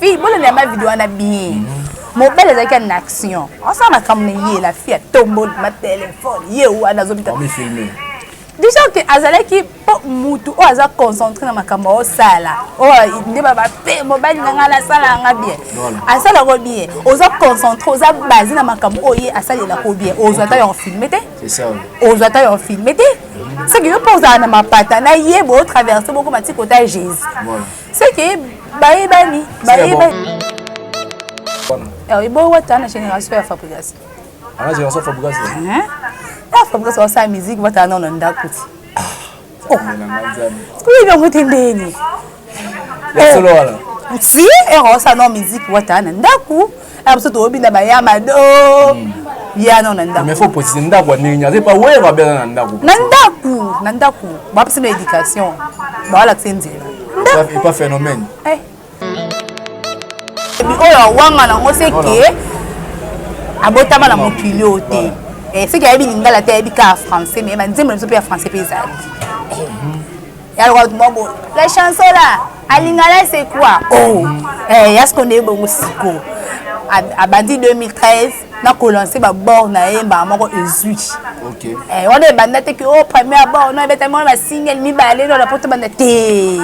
fille bolanda ma video wana bien mobali ezalaki na action osala makambo na ye la fille atomboli ma telefone ye wana azobita déjà ke azalaki mpo motu oyo aza concentré na makambo aosala oyo nde babape mobali na ngai nasala yanga bien asalako bien oza concentré oza base na makambo oyo ye asalelako bien ozwa ata yango filme te ozwa ata yo filme te seke yo mpo ozala na mapata na ye botraverse boko mati kota ya jésus seke bayebani bayebani eboyi wata na génération ya fabrigas fabrigas wasala musique watala nao na ndako ti Kuiga mutendeni. Ya solo wala. Si erosa no musique wata na ndaku. Ayo biso toyebi na bayama do. Hmm. Ya no na ndaku. Mais faut préciser ndaku ya ndenge nyaze pa wewe babela na ndaku. Na ndaku, na ndaku. Ba pesa na éducation. Ba wala kse nzela. Ndaku. Pas phénomène. Eh. oyo awanga nango seke abotama na mokili oyo te eh, seke ayebi lingala te ayebi kaka français mais banzembo na biso mpe ya français mpe ezali eh, yaloka moko la chanson la alingala c'est quoi oh eh, yasko nde ebongo siko abandi 2013 na kolanse babord na ye mbala moko ezwi eh, wana ebanda te ke o oh, première bord no ebetami wana basingel mibale no na poto banda te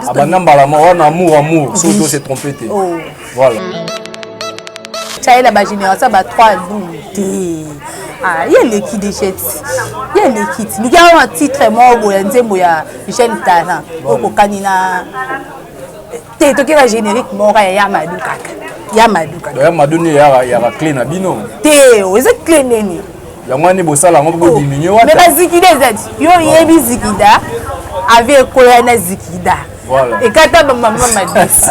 abanda mbala moko wana amour amour soki to se trompe te oh. voilà chaela bagénération ba 3 boum te ah, ye eleki dejeti ye eleki ti miki yango na titre moko boya nzembo ya jeune talent okokani na te toke ba générique moko ya ya madu kaka ya madu kaka ya madu ni ya ya clé na bino te oh, eza clé nini yango ani bosala yango bo oh, diminuer wata mais ba zikida eza yo yebi zikida avi ekoya na zikida voilà ekata ba mama madisi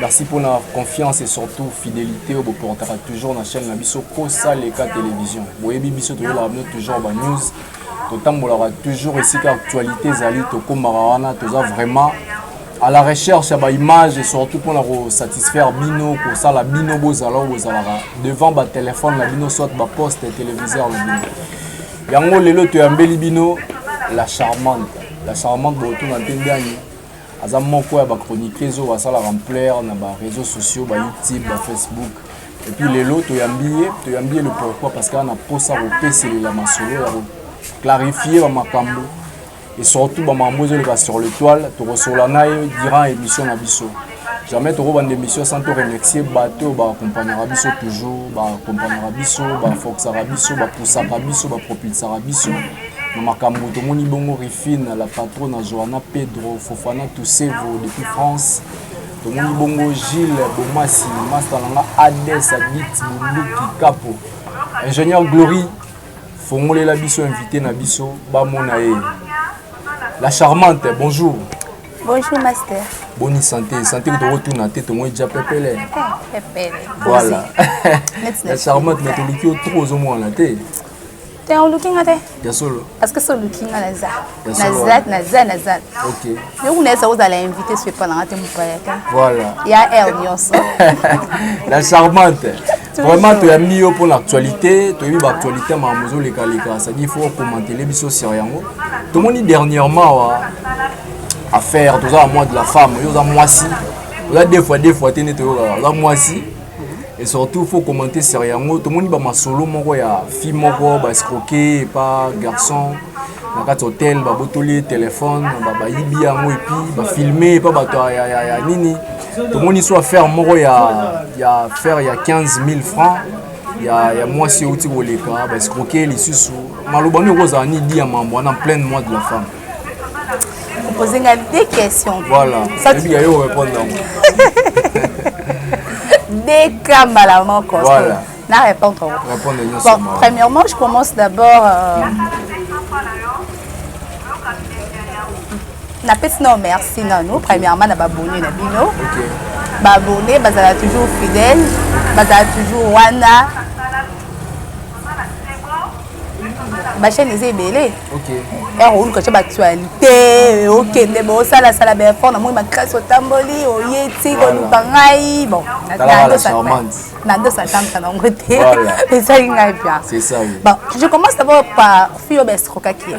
Merci pour la confiance et surtout fidélité au portera toujours la chaîne Nabiso Kosa Leka Télévision. Vous voyez, Bibiso toujours la news. totambolaka toujours esika actualité ezali tokomaka wana toza vraiment à la recherche ya baimage et surtout mpona kosatisfaire bino kosala bino bozala oyo bozalaka devant batelefone na bino soit baposte téléviseur na bino yango lelo toyambeli bino la charmante la charmante bootuna mpe ndani aza moko ya ba chroniqueuse oyo asalaka ampleur na ba réseaux sociaux ba youtube ba facebook et puis lelo toyambi ye toyambi ye le pourquoi parce que ana posa kopeselela masolo ya koclarifie bamakambo et surtout bamakambo ezoleka sur le toile tokosola na ye durant émission na biso jamais tokobanda émission sans toremercie bato oyo baakompagnaka biso toujours baakompagnaka biso bafoxaka biso bapusaka biso bapropulsaka biso na makambo tomoni bongo Rifine la patrona Joana Pedro Fofana Tusevo depuis France tomoni bongo Gilles Bomasi masta na nga Ades Abit Bunduki Kapo ingénieur Glory fongolela biso invité na biso bamona ye la charmante bonjour bonjour master boni santé santé kutu okotuna te tomoi ja pepele eh, voilà la charmante na toluki yo trop ozomonana te te oluki nga te ya solo parce que so oluki nga naza naza naza naza yo kuna esa ozala invité so epa nanga te mopaya te voilà ya air nyonso la charmante vraiment toyambi yo mpona actualité toyebi baactualité makambo ezolekaleka cestadi fo okomantele biso sur yango tomoni dernièrement wa affaire toza na mois de la femme yo oza mwasi oza deux fois deux fois te nde toyokaka oza mwasi et surtout faut commenter sur yango tomoni bamasolo moko ya fille moko baescroke epa garçon na kati hotel babotoli ye telefone bayibi yango epi bafilme epa bato ya nini tomoni so affaire moko ya affaire ya 15 000 francs ya, ya mwasi euti koleka baescroke lisusu maloba nde ekozala nidi ya mambo wana pleine mois de la femme Poser nga des questions. Voilà. Ça tu yo répondre donc. Des cas mbala moko. Voilà. Na répondre. Répondre nyonso. Bon, premièrement, je commence d'abord euh, napesi nao merci nano premièrement na babone na bino babone bazala toujours fidèle bazala toujours wana bachaine eza ebele ero oluka tya baactualité okende bosalasala baeffort namoni makasi otamboli oye ti koluka ngai bon nandosatambusa nango te ezali ngai bia bon je commence d'abord par fille oyo baescrokaki ye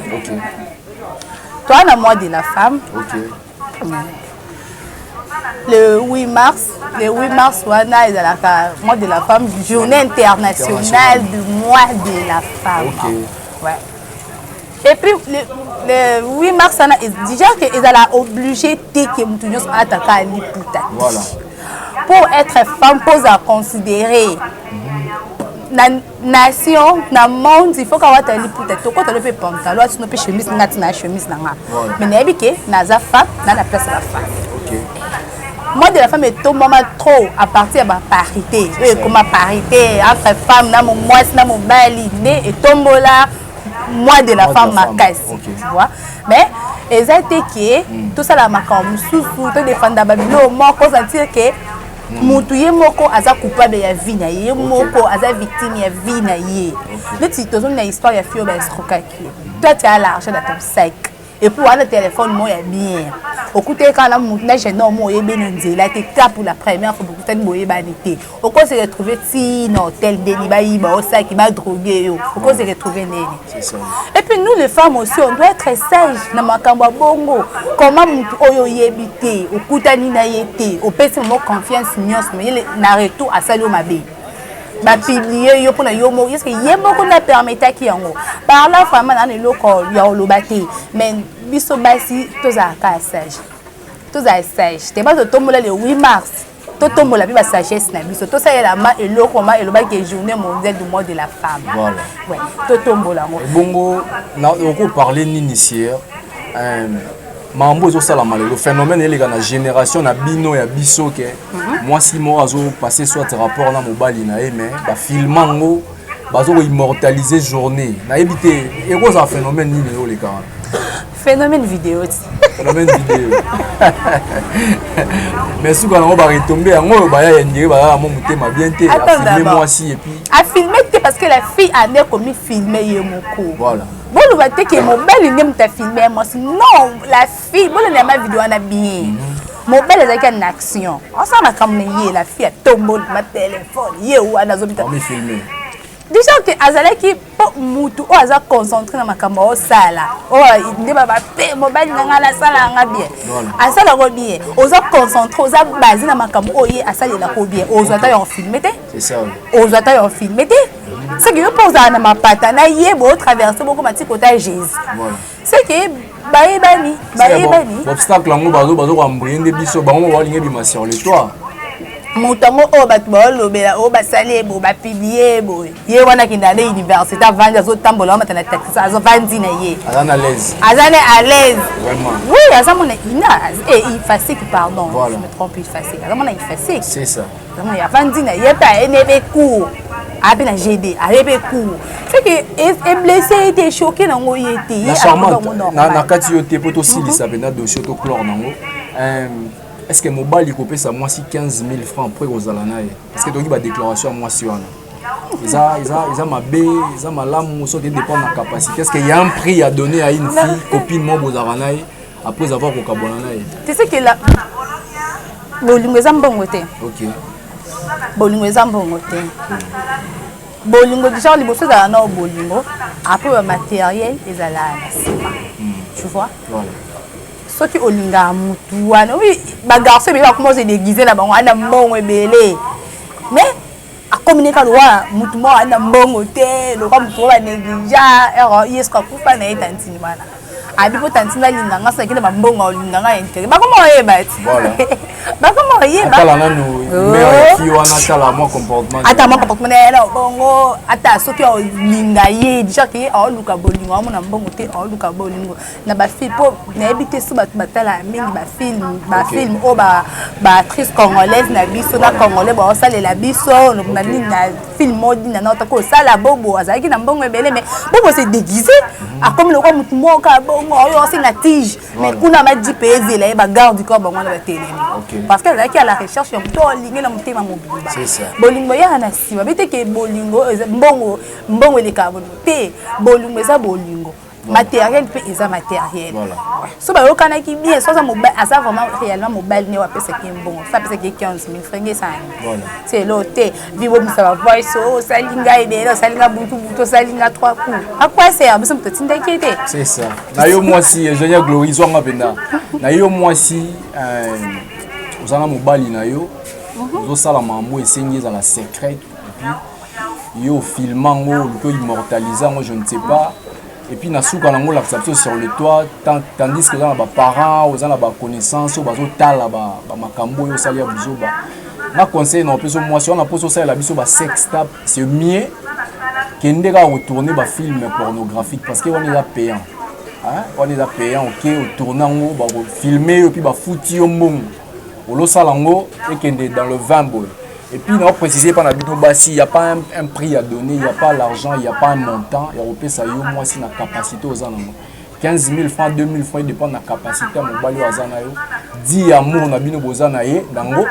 toa na mois de la femme le 8 mars le 8 mars wana ezalaka mois de la femme journée internationale du mois de la femme okay. ouais. et puis le, le 8 mars wana déjà que ezala obligé te ke moto nyonso ataka liputa voilà. pour être femme mpo ozala considéré mm -hmm. nation na monde il faut ka wata liputa tokota lope pantalon atino mpe chemise nga tina chemise na nga mais nayebi ke naza femme na na place ya bafemme moi de la femme etombama trop à partir ya baparité oyo ekoma parité entre femme na momwasi na mobali nde etombola moi de la femme makasi vois mais eza te ke tosala makambo mosusu todefanda babilo moko ozatire ke Hmm. mutu ye moko aza coupable ya vie na ye ye moko aza victime ya vie na ye neti tozongi na histoire ya fio baescrokaki ye toi tu as l'argent na ton sac epuis wana telefone moko ya bien okutaki kaka na mutu na jeune homme oyebi na nzela te ta pour la première fois bokutani boyebani te okosi retrouve ti na hotel ndeni bayiba osaki badroge yo okosi retrouve ndeni Et puis nous les femmes aussi, on doit être sage na makambo ya bongo. Comment mutu oyo oyebi te, okutani na ye te, opesi mo confiance nyonso, mais na retour asali yo mabe. Ba publier yo pona yo moko, est-ce que ye moko na permetaki yango? Par là vraiment na eloko ya oloba te, mais biso basi tozalaka sage. Tozala sage. Te bazo tombola le 8 mars. totombola mpe basagesse na biso tosalela ma eloko ma elobaki journée mondiale du mois de la femme voilà. ouais. totombola yango ebongo okoparle nini sieur euh, mambo ezosalama lelo phénomène eleka na génération na bino ya biso ke mhm. mwasi moko azopasse soit rapport na mobali na ye mais bafilma yango bazokoimmortalise journée nayebi te ekozala phénomène nini eoleka wana phénomène vidéo ti phénomène vidéo mais suka nango baretombe yango oyo baya ya ndire balala mo motema bien te afilme mwasi epuis afilme te parce que la fille ane komifilme ye moko voilà boloba te ke mobali nde moto afilme ya mwasi non la fille bolanda yama video wana bien mhm. mobali azalaki ya na action asala makambo na ye la fille atomboli batelefone ye wana azobita déjà ke azalaki mpo mutu oyo aza concentré na makambo osala oyo nde babape mobali na ngai nasala yanga bien asala yango bien oza concentré oza base na makambo oyo ye asalelako bien ozwa ata yango filme te ozwa ata yango filme te soki yo mpo ozala na mapata na ye botraverse bokoma ti kota jésus seke bayebani bayebani obstacle yango bazokoambrie nde biso bango moko balingi ebima sur le toit moto yango oyo bato baolobela oyo basali ebo bapiblie boye ye wana akenda na université avandi azotambola wamata na taxi azovandi na ye aza na alaise oui aza mona ina efasique eh, pardon je me trompe efasique aza mona efasique Vraiment, ya fandi na ye pe aye nebe cours. Abe na GD, aye be cours. C'est que e blessé était choqué na ngo ye te. Ye charmante na na kati yo te poto sili sa benda dossier to clore na ngo. Euh est-ce que mobali ko pesa mwasi 15000 francs après kozala na ye? Est-ce que toki ba déclaration ya mwasi wana? eza eza eza mabe eza malamu soki dépend na capacité est-ce que ya un prix ya donner à une fille copine moko bozalaka na ye après avoir kokabwana na ye tu sais que la bolingo eza mbongo te okay. bolingo eza mbongo te bolingo genre liboso ezala nao bolingo après bamateriel ezalaka na nsima hmm. tu vois voilà. soki olingaka motu wana oui bagarçon ebele bakoma ozo déguise na bango ana mbongo ebele mais akomi ne kaka lokola motu moko aza na mbongo te lokola motu moko banegligea ero ye soki akufa na ye tantini wana abi mpo tantini alinga nga soki akende bambongo aolinga nga intere bakoma oyeba ti bakoma oyeba ata mwa comportement ya na bongo ata soki aolinga ye déjà ke aoluka bolingo amona mbongo te aoluka bolingo na bafilme mpo nayebi te so bato batalaka mingi bafilme bafilme oyo baactrice congolaise na biso na congolais baosalela biso na nini na filme odi na naotako osala bobo azalaki na mbongo ebele mai bobo se déguise akomi lokola motu moka bongo oyo osenga tige mai kuna baji mpe ezela ye bagarde corps bango wana batelemi parce que azalaki ya la recherche ya moto olingi na motema mobimba bolingo eyaka na nsima bete ke bolingo mbongo mbongo elekaka bolingo te bolingo eza bolingo matériel mpe eza matériel so bayokanaki bien so aza vraiment réellement mobali ne apesaki mbongo so apesaki 15 000 franc esani selo te bibomisa bavoice o osali ngai ebele osali ngai butu butu osali ngai trois coup akwasea biso moto otindaki ye te na yo mwasi eugenia glori zwanga mpenza na yo mwasi ozanga mobali na yo ozosala mambo esengi ezala secret epuis yo filma ngo oluki oimmortalise yango je ne sais pas et puis na suka nango olakisa biso sur le toit tandis que oza na baparent oza na baconnaissance oyo bazotala bamakambo oyo osali ya buzoba na conseil na opesa mwasi wana mposa osalela biso basex tap c'est mieux kende kaka kotourne bafilme pornographique parce que wana eza payant wana eza payant oke otourne yango bakofilme yo mpe bafuti yo mbongo olosala yango ekende dans le 20 boye et puis na préciser epa na bino basi il y a pas un, un prix à donner il y a pas l'argent il y a pas un montant ya kopesa yo mwasi na capacité oza nango 15 000 francs 2 000 francs edépend na capacité ya mobali oyo aza na yo di ya amour na bino boza na ye nango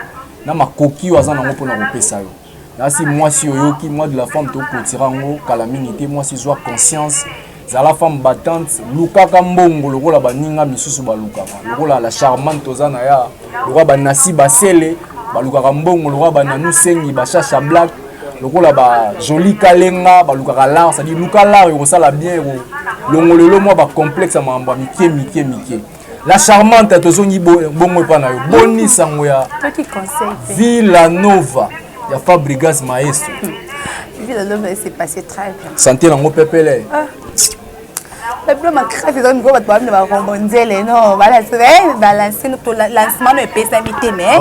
na makoki oyo aza nango mpona kopesa yo nasi mwasi oyoki moi de la femme tokotira yango kala mingi te mwasi ezwa conscience zala femme battante lukaka mbongo lokola baninga misusu balukaka lokola la charmante toza na ya lokola banasi basele balukaka mbongo lokola bananu sengi bashasha black lokola ba joli kalenga balukaka lar cestadire luka lar ekosala bien longo lelo mwa bacomplexe ya makambo ya mike mike mike la charmante tozongi bongo epa na yo boni sango ya villa nova ya fabrigas maestro villa nova ese passé très bien santé nango pepele ah. bapilo makasi ezali mikoyo bato baami na barombo nzele no balanse eh, balanse lancement no epesami te mais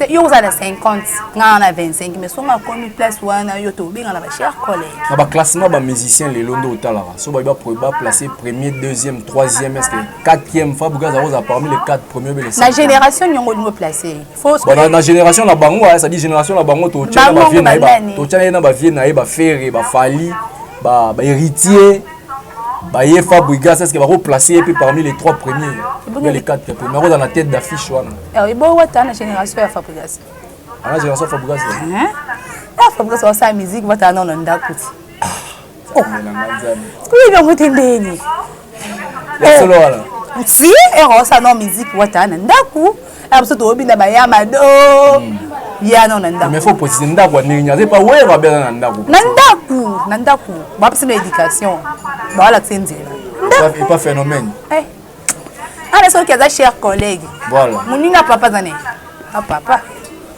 C'est yo ozala 50 nga na 25 mais songa komi place wana yo to benga na ba chers collègues na ba classement ba musiciens les londo otalaka so ba ba ba placer premier deuxième troisième est-ce que quatrième fa bukaza oza parmi les quatre premiers les la génération nyongo nyongo placer faut ba na, na génération na bango ça dit génération na bango to tchana ba vieux na ba to tchana na ba vieux na ba ferre ba fali ba ba héritier baye fabrigas eske bako place ye mpe parmi les trois premiers ya les quatre premiers akozala na tête d'affiche wana eh, eboyi wata na génération ya fabrigas ana génération ya fabrigas ya fabrigas basala musique batala nao na ndako ti kuyi bango te ndeni solo wana si erosala nao musique wata na ndako Ah, biso tobina bayamado hmm. ya no na ndako faut préciser ndako ndenge nini azepa wero abela na ndako na ndako na ndako bapesa na éducation bawalakisa nzela epa phénomène eh. ana ah, soki aza cher collègue moninga papa aza nini ah, papa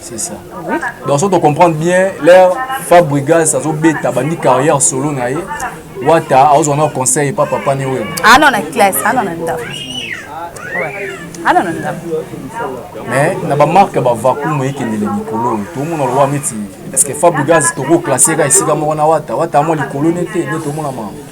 C'est ça. Oui. Donc, si on comprend bien, l'air Fabrigas, ça beta, bandi carrière solo na ye. Wata, azo un conseil pas papa ni wewe. Ah non, la classe, ah non, la ndaf. Ouais. Ah non, la ndaf. Mais na ba marque ba vacuum et kende le mikolo. Tout le monde le miti. Parce que Fabrigas toko classé ka isika moko na Wata. Wata mo likolo nete, nete mo na mama.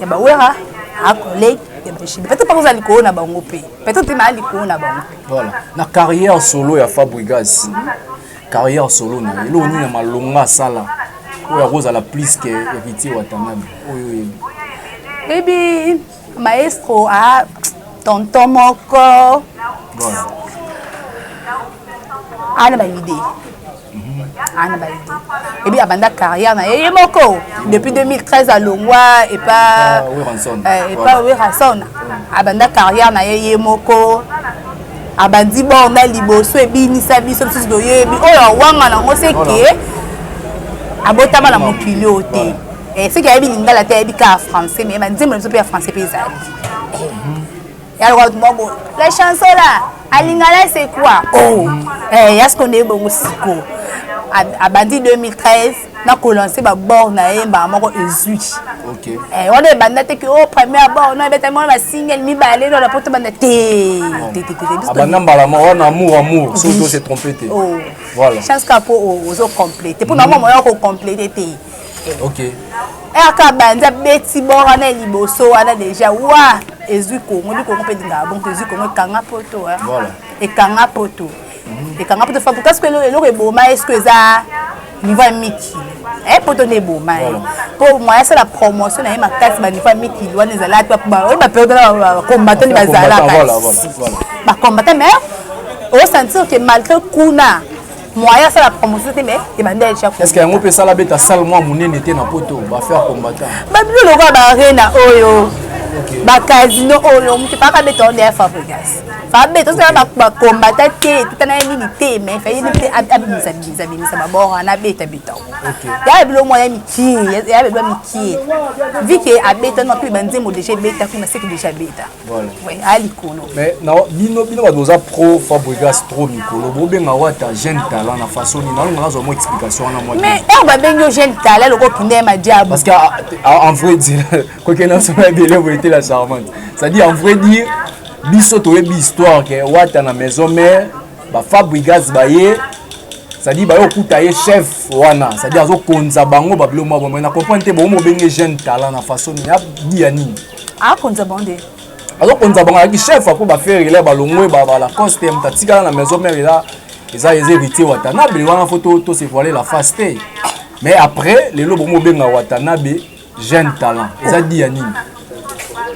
ya ba wera a collègue ya ba chine peut-être pas ozali koona bango pe peut-être na ali koona bango voilà na carrière solo ya Fabrigas carrière solo na ye eloko nini ya malonga asala oyo akozala plus que héritier watanabe oyo oyebi baby maestro a tonton moko voilà ana ba idée ana baye te ebi abanda carrière na ye ye moko depuis 2013 alongwa epa epa werason euh, abanda carrière na ye ye moko abandi borna liboso ebinisa biso mosusu toyebi oyo awanga nango seke abotama na mokili oyo te eh, seke ayebi lingala te ayebi kaka français mais banzembo na biso mpe ya français mpe ezali ya lokola bato moko la chanson la alingala c'est quoi oh eh, ya sikoyo nde ebongo sikoyo abandi 2013 nakolanse babord na ye mbala moko ezwi eh, wana ebanda te ke o oh, première bord no ebetami wana basingle mibale no na poto banda teabanda mbala moko wana amour amour soki ose trompe te oh. voilà chance ka mpo ozo complete mpo na mwa moya okocomplete te okay. rk banza beti bor wana liboso wana deja wa ezwi kongo ndi kongo mpe elingaka bongo ezwi kongo ekanga poto voilà. ekanga poto mhm. ekanga poto fabuka soki eloko eboma ye soki eza niveau ya mikili eh, poto nde eboma ye mpo moya asala promotion na ye makasi baniveau ya mikili wana ezalaki oyo baperiode na bacombatant bazalaka bacombatant mais osentir ke malgré kuna moyen asala promotion te mais ebanda echa est ce que yango mpe esala beta sale mwa monene te na poto bafaire combattant babilo lokola baarena oyo bacasino oyo moto epaka beta oyo ndeya fabrigas fabeta ozala bakombata te etutana ye nini te mais faye nini te abimisa bimisa bimisa babor wana abeta beta ya bilo mwa ya mikie ya bilo ya mikie vike abeta nwa mpe banzembo deja ebeta kuna seke deja abeta Voilà. Oui, à l'icône. Mais non, bino bino ba doza pro Fabregas trop mikolo. Bo benga wata jeune talent na façon ni nalo nazo mo explication na moi. Mais eh ba bengo jeune talent loko kinde ma diable. Parce que ah, ah, en vrai dire quoi que non ça va délai vous était la charmante. Ça dit en vrai dire biso toyebi histoire ke wata na maison mère ba Fabregas ba ye c'est-à-dire baye okuta ye chef wana c'est-à-dire azokonza bango babilo mwa bomoi na comprendre te bomobenge jeune talent na façon ya biya nini akonza bango nde azokonza bango ayaki chef apo bafere ila balongwe balacoste moto atikala na maison mare ila eza eza héritier watanabe wana fo tosevoile la face te mais après lelo bomo obenga watanabe jeune talent eza di ya nini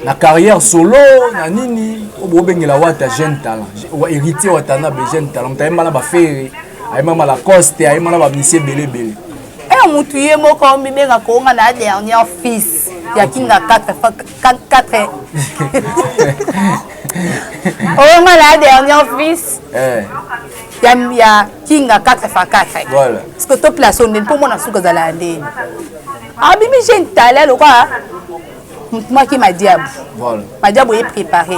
na carrière solo na nini oyo bobengela wata jeune talent héritier watanabe jeune talent moto ayembana bafere ayembana balacoste ayembana bamisie ebele ebele Eh, mutu ye moko mibenga konga na dernière fils ya kinga 4 4 onga na dernière fils eh. ya ya kinga 4 fa 4 voilà parce que to place on pour moi na suka zala ya ndeni abimi ah, je ntala lokola maki madiabu voilà madiabu ye préparé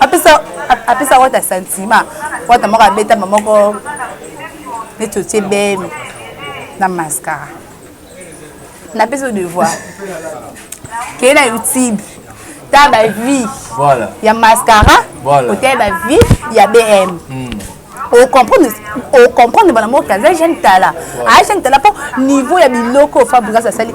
apesa apesa wata sentiment wata moko abetama moko neti otie bemi na mascara napesa devoir kei na youtube ta bavie voilà. ya mascara voilà. otaye bavie ya bm mm. ocomprendre ocomprendre bana moko aza jeune tala aza jeune tala mpo niveau ya biloko fabrigas asali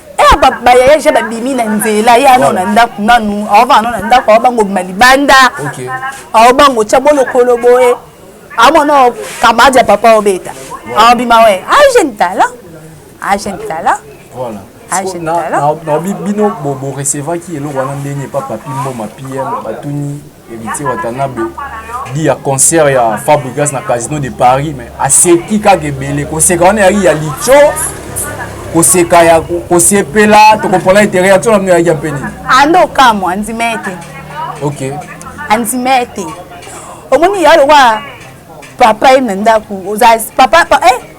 Eh, ba ba yaya ja ba bimi na nzela ya no na ndaku nanu awa ba no na ndaku awa bango bima libanda okay awa bango cha bolo kolo boye awa no kamadi ya papa obeta awa bima we a ah, jeune talent a ah, jeune talent voilà na bino bo recevaki eloko wana ndenge epa papi mboma pm batuni Héritier Watanabe dit ya concert ya Fabregas na Casino de Paris mais aseki kaka ebele koseka wana yaki ya licho koseka ya kosepela tokomprana ete réaction na bino yaki ya mpe nini ando okamwa andima ete ok andima ete omoni ya lokola papa ye na ndako oza papa eh,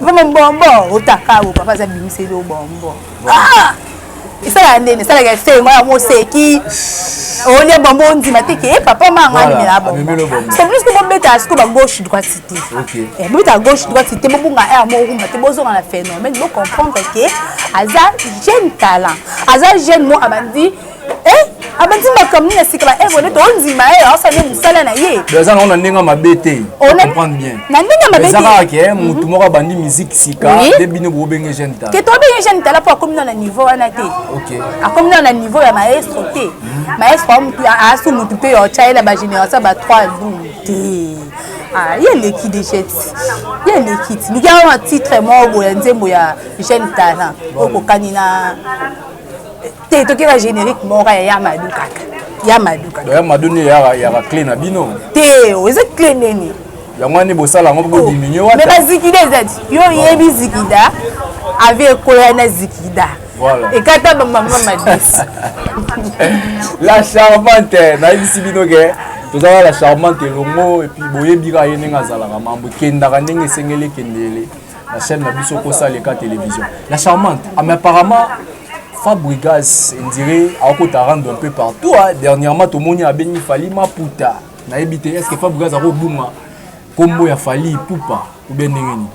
Vraiment bombo otakabo papa aza bimisa yo bombo. Ah! Esala ndene, esala ya se moi mo seki. Olia bombo ndima te ke papa manga ni la bombo. C'est plus que bombe ta siko ba gauche droite cité. OK. Et bombe ta gauche droite cité bombo nga air mo rumba te bozo na phénomène, bo comprendre que aza jeune talent. Aza jeune mo abandi eh, abandi makambo nini asika ba evole to ondima ye aosa nde mosala na ye eza nango na ndenge mabe te comprendre bien na ndenge mabe eza kaka ke mhm. motu moko abandi miziki sika nde bino bobenge jeune tala ke tobenge jeune tala mpo akomi nao na niveau wana te akomi nao na niveau ya maestro te mhm. maestro asu motu mpe otya ye na bagénération ba 3 dum te Ah, ye eleki deja ti ye eleki ti liki yango na titre moko boya nzembo ya jeune talent okokani na te toke ba générique moko ya ya madu kaka ya madu kaka ya madu ni ya ya clé na bino te oh, eza clé nini yango ani bosala yango bo oh, diminuer wata mais ba zikida ezati yo yebi zikida avi ekoya na zikida voilà. ekata bamama madisi la charmante nayebisi bino ke tozalaka la charmante elongo epuis boyebi kaka ye ndenge azalaka mambo ekendaka ndenge esengeli ekendele na chaîne na biso kosa leka télévision la charmante ah, mais apparemment fabrigas endire akota rando un peu partout hein. dernièrement tomoni abengi fali maputa nayebi te est ce que fabrigas akobunga nkombo ya fali pupa obe ndenge nini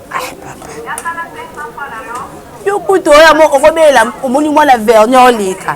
yo kutu oyo okobelela omoni mwana vernier oleka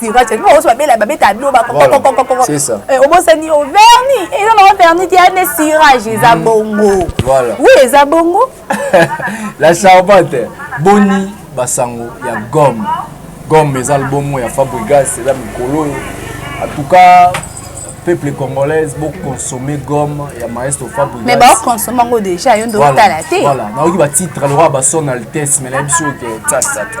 siracha bino bakosi babela babeta doba eh, obosani o verni eza nao verni te ane sirage eza mm. bongo wi eza bongo la charpente boni basango ya gomme gomme eza libomo ya fabrigas eza mikolo oyo en tout cas peuple congolaise boconsomme gomme ya maestro fabrigasme baconsomme yango déjà yo nde otala te voilà nayoki batitre lokola bason altesse me nayebi soki ke tasata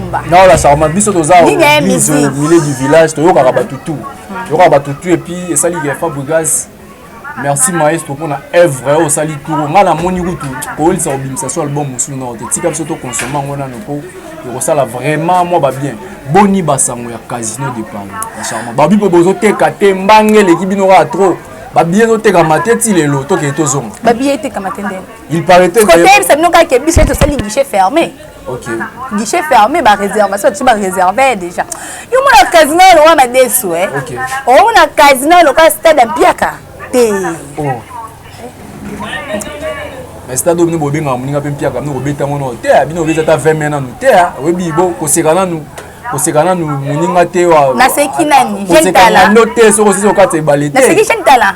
Non, la sarma biso toza au milieu du village, toyokaka batu tout. Toyokaka batu tout et puis esali que Fabregas merci maestro mpona evre oyo osali turo ngai namoni kutu koyolisa kobimisa so album mosusu nao te tika biso tokonsome yango nano mpo ekosala vraiment mwa babien boni basango ya casino de paris bacharma babi mpe bozoteka te mbange eleki bino kaka trop babiye ezotekama te ti lelo tokei tozonga babiye etekama te ndenge il paraît te koyebisa bino kaka biso tosali guichet fermé Okay. Guichet fermé, bah réservation, tu vas réserver déjà. Yo mon casino le roi m'a déçu eh. OK. Oh mon casino le cas stade en piaka. Té. Oh. Mais stade obni bobe nga muninga pe piaka no obeta ngono. Té abino obeta ta 20 mena no. Té obi bo kosekana no. koseka nanu moninga te naseki nani jeune tala no te soko sisi okata ebale te naseki jeune tala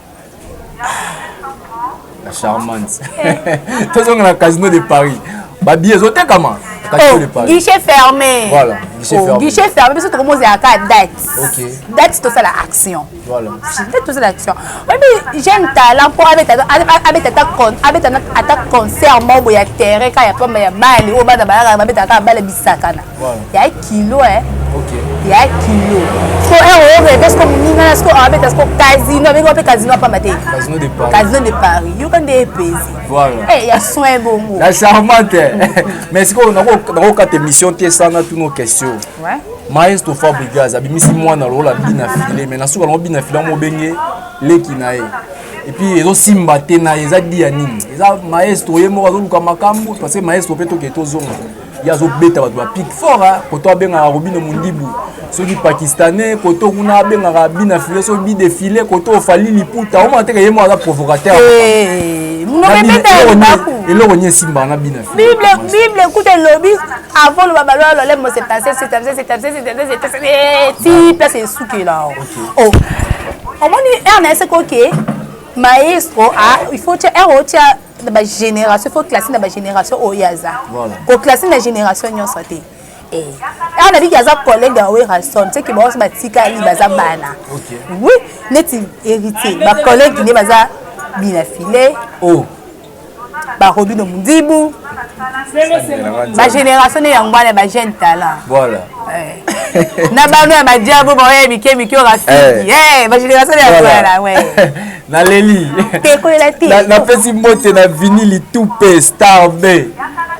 La charmante. Tozonga na casino de Paris. Ba billets ezotekama. Casino de Paris. Guichet fermé. Voilà, guichet oh, fermé. Guichet fermé biso tokomoza ya ka date. OK. Date tosala action. Voilà. Date tosala action. Oyebi jeune talent mpo abeta abeta ata con abeta ata concert moko ya terrain ka ya pamba ya bale oyo bana balaka babetaka bale bisakana. ya kilo eh ya kilo so heure eh, oyo reve siko moninga na siko abeta siko casino abeki wape casino apamba te casino de paris yoka nde epesi eh, ya soin bongo na charmante mais sikoyo nakokata émission te sana tuno question maestro fabrigas abimisi mwana lokola bina file mais nasuka nango bina file yango obenge leki na ye epuis ezosimba te na ye eza dia nini eza maestro ye moko azoluka makambo parce que maestro mpe toke tozonga ye azobeta bato bapike fort koto abengaka robino mondibu soki pakistanais koto kuna abengaka bina file soki bidefile koto ofali liputa omona teke ye moko aza provocateur eh, eloko nini esimbaka na bina bible kuta elobi avant loba baloya lolemo ti place esukela oh. omoni ernest koke maestro ah, il faut tia ero tia na ba génération faut classer na ba génération oyo aza ko classer na génération nyonso te eh. awa nabiki aza collègue ya werrason seke baosi batikali baza bana oui neti héritier bacollègue nde baza bina filet oh. barobino mundibu bagénération ne yango wana bajeune talent voilà eh. na bano ya badiabo baoya mike mike orafiki eh. eh, bagénération ne yango wana naleli ekolela te napesi mbote na vini litupe star b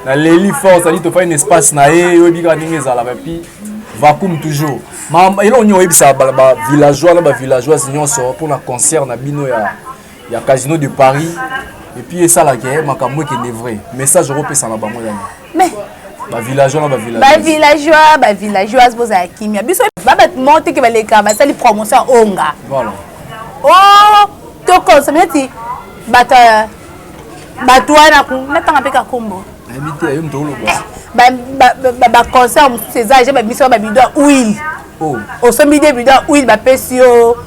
naleli force ali tofai na espace na ye oyebi kaka ndenge ezalaka epuis vacuum toujours eloko nini oyebisa bavillageois na bavillageoise nyonso mpona concert na bino ya, ya casino de paris epuis esalaka makambo ekende vrai message okopesa na bango yango mais ba villageois na ba villageois ba villageois ba villageoise bozala kimia biso ba bato moko te ke baleka basali promotion ya onga voilà o oh, tokonsome neti bato bato wana natanga mpe kakombo baconcert mosusu eza ja babimisi ba babido ya huile oh. osombi de bido ya huile bapesi yo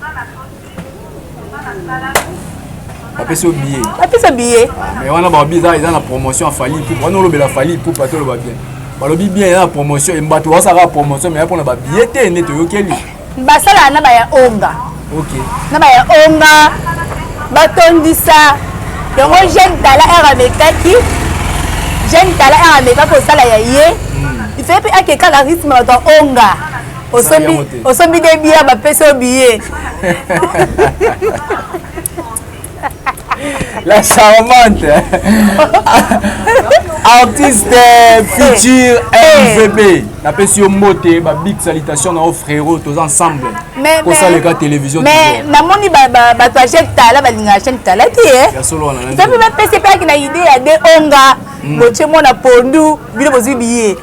bapesi yo billet bapesa billet ah, mais wana balobi eza eza na promotion ya fali ipupa wana olobela fali ipupa te oloba bien balobi bien eza na promotion embato basalaka promotion mais ya mpona babillet te nde toyokeli basalaka na baya onga ok na baya onga batondisa yango jeune tala ere amekaki jeune tala ere ameka kosala ya ye hmm. ife mpe akekaka rythme bato ya onga osombi osombi de bia bapesi yo biye la charmante artiste futur mvp napesi yo mbote ba big salutation na yo frérot toza ensemble kosaleka télévision mais namoni bato ya chaine tala balingaka chaine tala te eh? mpe bapesi mpe aki na idée ya de onga botie mwana pondu bino bozwi biye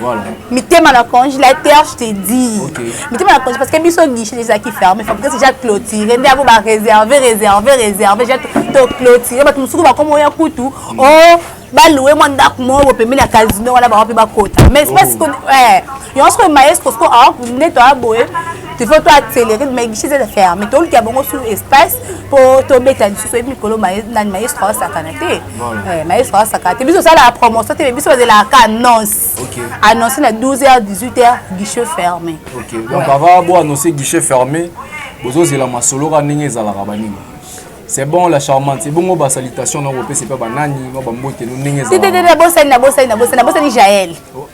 Voilà. mitema na conge la terre je te dis okay. mitema na conge parce que biso guichet ezalaki ferme fabrique déjà clôturé nde yango baréserve réserve réserve ja toclôturé bato mosusu bakoma oya kutu o mm. oh, baloue mwa ndako moko bopembe na casino wana bango mpe bakota mais espèce oh. eh, yango soki maestro soki ah, nde toya boye il faut toaccéléré mais guichet eza ferme toluka bango sur espace mpo tobeta lisusu oyebi mikolo nani maestro asakana te Eh, maestro asaka te biso osalaka promotion te biso bazelaka ka annonce annonce na 12 h 18 h guichet fermé donc avant bo annonce guichet fermé bozozela masolo ka ndenge ezalaka banini c'est bon la charmante ebongo basalitation na kopesa epai banani no bambote no ndenge ezalaka bosani na bosani na bosani na bosani jael oh.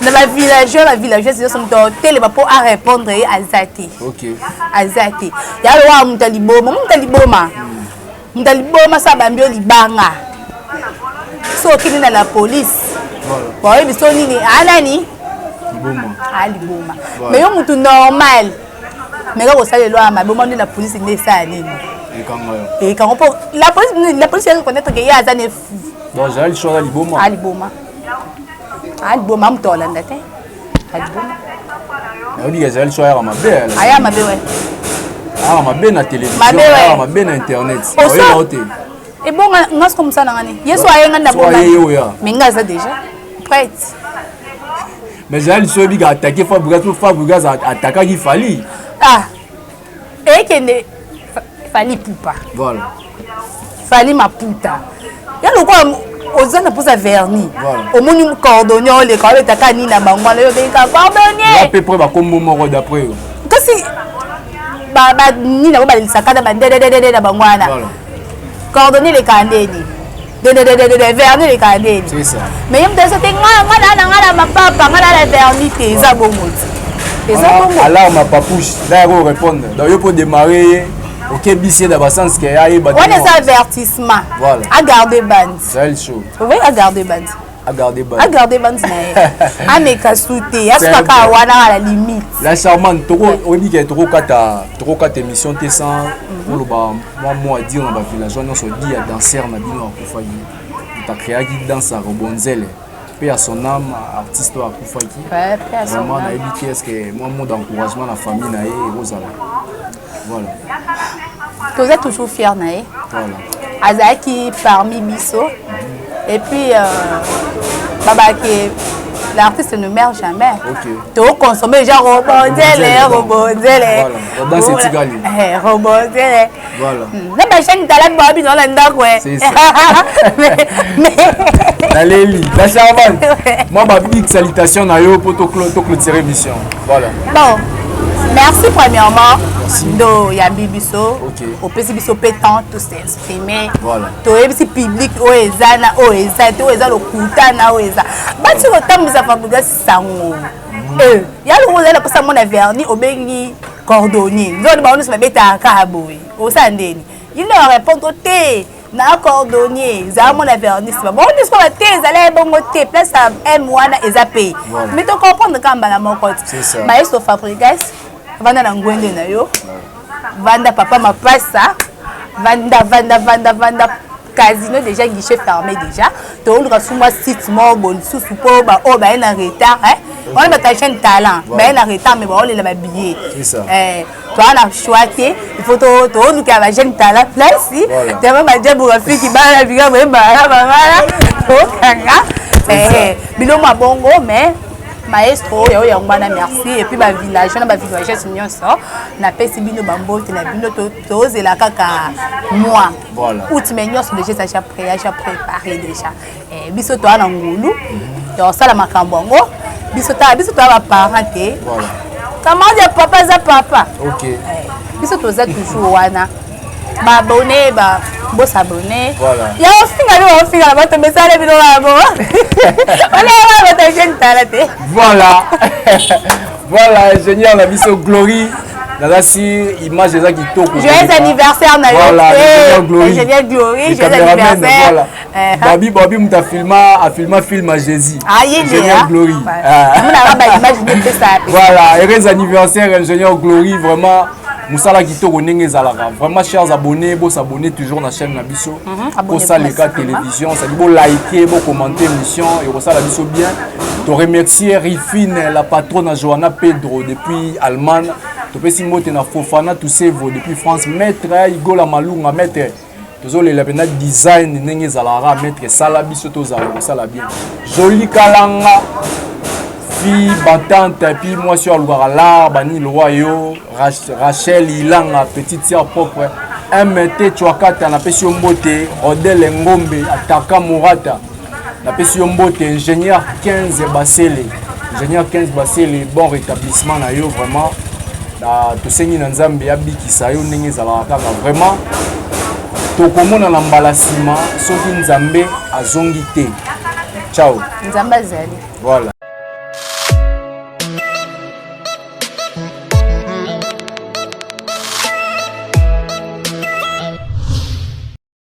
na ba villageois ba villageoise nyonso moto atelema mpo a répondre ye aza te aza te ya lowa moto ya liboma moto ya liboma moto ya liboma so abambi yo libanga so okende na la police baoyebi so nini anani aliboma mais yo motu normal meka kosala elwaa mabe omoni la police nde esala nini ekango mpo la police la police ya reconnaître ke ye aza ne fou donc azali soki aliboma aliboma adboma ah, moto olanda te adboma ah, nayobi ezali so ayaka mabe aya ah, mabe wapi ayaka mabe na télévisionayaka mabe na internet oyeba te ebonga nga soko mosala ngani yesu ayenga na boma me nga aza déjà prête mais ezali liso oyebika atake fabrigas po fabrigas atakaki fali ah ekende fali pupa voilà fali maputa ya lokola oza na mposa verni omoni cordonnier oleka obeta ka nini na bango wana yo obengika cordonnierape pre bakombo moko d'après yo kasi nini yango balelisaka na bandededede na bango wana cordonnier elekaka ndeni verni elekaka nde ebi mais ye moto azo te nga nga naa na nga na mapapa nga naa na verni te eza bongo te eza bongo alors ma papouche nda yako répondre donc yo mpo démarre ye okebisi ye na basense ke ayeba wana eza avertissement agarde bandi ovoyi agarde bandi agarde bandi na ye ameka su te asukaka wana ala limite la charmante oyebi ke tokokata émission te sans mhm. oloba mwa mwa dire na bavillageois nyonso di ya danser na bino akufaki moto akreaki danse ya robonzele mpe ya son âme artiste oyo akufaki vraiment nayebi te estce mwa mot d'encouragement na famille na ye ekozala voilà. toza toujours fier na ye voilà. azalaki parmi biso mm -hmm. et puis euh, babake l'artiste ne meurt jamais okay. tokoconsomme déjà robonzele robonzele robonzele na bashani tala baa bino na ndako naleli la charmante mwa babig salitation na yo mpo toclotire mission voilà bon merci premièrement ndo yambi biso opesi biso mpe temps to s'exprimer toyebisi public oyo eza na oyo eza te oyo eza lokuta na oyo eza bati kotambwisa fabriga sango mm. eh, ya longo ozali naposa mona verni obengi cordonnier nzoni bango nyonso babetaka kaka boye osala ndeni il ne répondre te na cordonnier zala mona vernis bango nyonso kaka te ezali ya ebongo te place ya m wana eza pay mi to comprendre kaka mbala moko te maestro fabrigas vanda na ngwende na yo vanda papa mapasa vanda vanda vanda vanda casino déjà guichet fermé déjà toluka sumwa site moko bo lisusu mpo baoyo baye na retard wana batalisa talent baye na retard mais baolela babillet toa na choix te ifo tolukela bajeune tala place tama bajabu bafiki bana bika boyebana babana tokanga bino mwa bongo mais maestro oyo yango wana merci epuis bavillage na bavillages nyonso napesi bino bambote na bino tozela kaka mwa out mai nyonso deja eza ja pré ya ja prépare deja eh, biso toa na ngulu tosala makambo yango biso tala biso toa baparent te camarade ya papa aza papa eh, biso toza toujours wana baabone ba bosabone ya ofinga nde baofinga na bato mesala bino bango onaaa bato ejeune tala te voilà voilà ingénieur na biso glorie nazasi image eza kitoko joyeux anniversaire na yo ingénieur glorie joyeux anniversaire Eh, babi babi moto afilma afilma film ya jésus ah, ingénieur hein? glory ah. voilà heureux anniversaire ingénieur glory vraiment mosala kitoko ndenge ezalaka vraiment chers abonnés bosabonne toujours na chaîne na biso mhm, bosaleka télévision sadi bolike bocommente émission ekosala biso bien toremercie rifine la patronne johanna pedro depuis allemagne topesi mbote na fofana tusevo depuis france maître igola malunga maître tozolela mpenza design ndenge ezalaka maître esala biso tozala kosala bien joli kalanga fi batante epuis mwasi oyo alukaka lar banini lowa yo rachel ilanga petite sœur propre mt chwakata napesi yo mbote odele ngombe ataka morata napesi yo mbote ingénieur 15 basele ingénieur 15 basele bon rétablissement na yo vraiment na tosengi na nzambe abikisa yo ndenge ezalaka kaka vraiment tokomonana mbala nsima soki nzambe azongi te ciao nzambe azali voilà